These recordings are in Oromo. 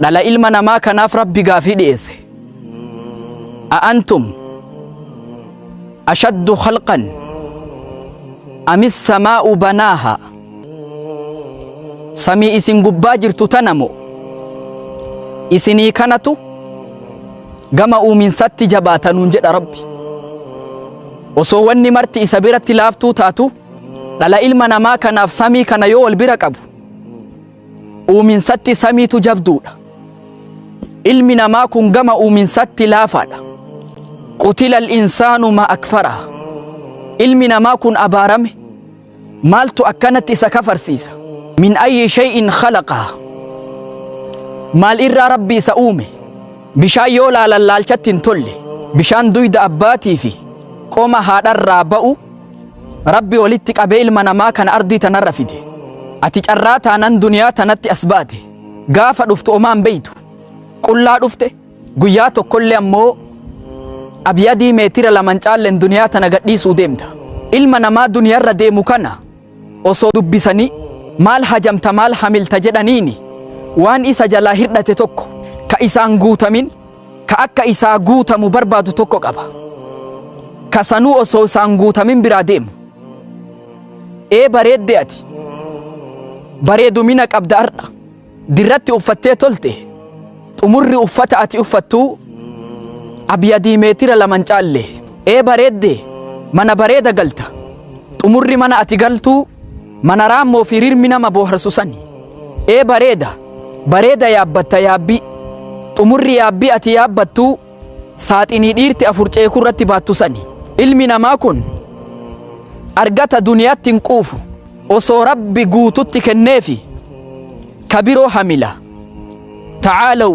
dhala ilma namaa kanaaf rabbi gaafii dhiyeesse a'antum ashaddu khalqan amis samaa'u banaaha samii isin gubbaa jirtu tana moo isinii kanatu gama uuminsatti jabaatanuun jedha rabbi osoo wanni marti isa biratti laaftuu taatu dhala ilma namaa kanaaf samii kana yoo wal bira qabu Uuminsatti samiitu jabduudha. Ilmi namaa kun gama uuminsatti laafaadha. Qutilal insaanu ma akfaraa. Ilmi namaa kun abaarame. Maaltu akkanatti isa kafarsiisa? Min ayyi shay'in khalaqaa. Maal irraa rabbi isa uume? Bishaan yoo laalan laalchatti hin tolle. Bishaan duyda abbaatii fi qoma haadharraa ba'u Rabbi walitti qabee ilma namaa kana ardii tanarra fide. Ati carraa taanan duniyaa tanatti as baate. Gaafa dhuftu omaa hin beeytu. Qullaa dhufte guyyaa tokkollee ammoo abyadii meetira laman caallen duniyaa tana gadhiisuu deemta. Ilma namaa duniyarra deemu kana osoo dubbisanii maal hajamta maal hamilta jedhaniini waan isa jalaa hirdhate tokko ka isaan guutamin ka akka isaa guutamu barbaadu tokko qaba ka sanuu osoo isaan guutamin biraa deemu ee bareedde ati bareedumina qabda har'a dirratti uffattee tolte xumurri uffata ati uffattuu abyadii meetira laman caalle ee bareedde mana bareeda galta xumurri mana ati galtuu Mana raammoo fi rirmi nama booharsu sani. Ee bareeda, bareeda yaabbatta yaabbii. Xumurri yaabbii ati yaabbattuu saaxinii dhiirti afur ceekuu irratti baattu sani. Ilmi namaa kun argata duniyaatti hin quufu. Osoo Rabbi guututti kenneefi ka biroo hamila. Ta'aalaw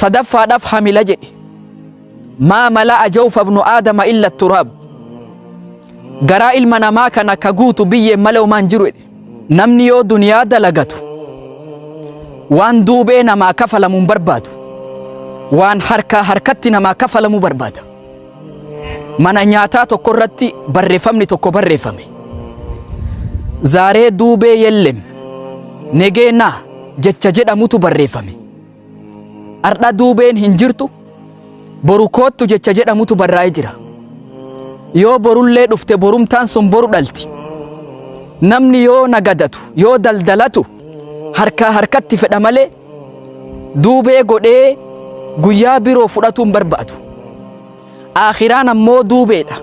sadaffaadhaaf hamila jedhe maa mala'a jawfa ibnu aadama illa turaab garaa ilma namaa kana ka guutu biyyeen malee homaan jiru jedhe namni yoo duniyaa dalagatu waan duubee namaa kafalamu hin barbaadu waan harkaa harkatti namaa kafalamu barbaada Mana nyaataa tokko irratti barreeffamni tokko barreeffame. Zaaree duubee yellem negeenaa jecha jedhamutu barreeffame. Ardha duubeen hin jirtu boru koottu jecha jedhamutu barraa'ee jira. Yoo borullee dhufte borumtaan sun boru dhalti. Namni yoo nagadatu yoo daldalatu harkaa harkatti fedha malee duubee godhee guyyaa biroo fudhatuu hin barbaadu aakhiraan ammoo duubeedha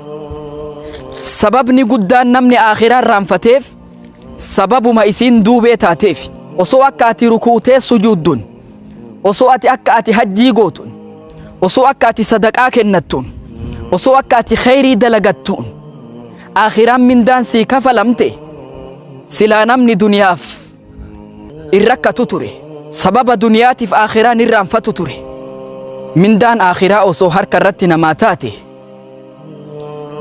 sababni guddaan namni aakhiraa irraanfateef sababuma isiin duubee taateef osoo akka ati rukuutee sujuudduun osoo ati akka ati hajjii gootuun osoo akka ati sadaqaa kennattuun osoo akka ati kheyrii dalagattuun aakhiraan mindaan sii kafalamte silaa namni duniyaaf in rakkatu ture sababa duniyaatiif aakhiraa ni irraanfatu ture mindaan aakhiraa osoo harka irratti namaa taate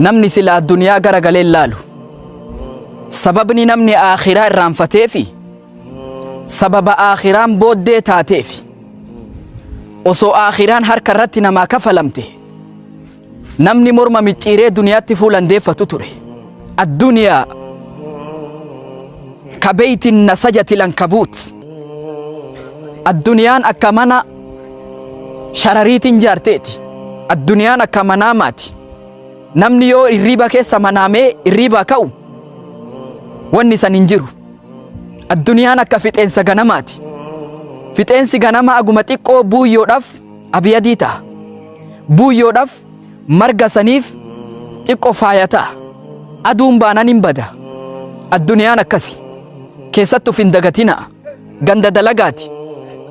namni sila addunyaa gara galee hin laalu sababni namni aakhiraa irraanfateefi sababa aakhiraan booddee taateefi osoo aakhiraan harka irratti namaa kafalamte Namni morma micciiree duniyaatti fuulan deeffatu ture. Adduniyaa ka beeyti nasajati lankabuut. Adduniyaan akka mana sharariitiin jaarteeti. Adduniyaan akka manaamaati. Namni yoo irriiba keessa manaamee irriibaa ka'u wanni san hin jiru. Adduniyaan akka fixeensa ganamaati. Fixeensi ganamaa aguma xiqqoo buuyyoodhaaf Abiyadii ta'a. Buuyyoodhaaf marga saniif xiqqo faaya ta'a. Aduun baanan hin bada. Adduniyaan akkasi. Keessatti uf hin dagatinaa. Ganda dalagaati.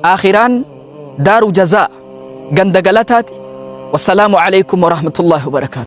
Aakhiraan daaru jazaa, ganda galataati. Wassalaamu aleykum warahmatullaahi wabarakaatuh.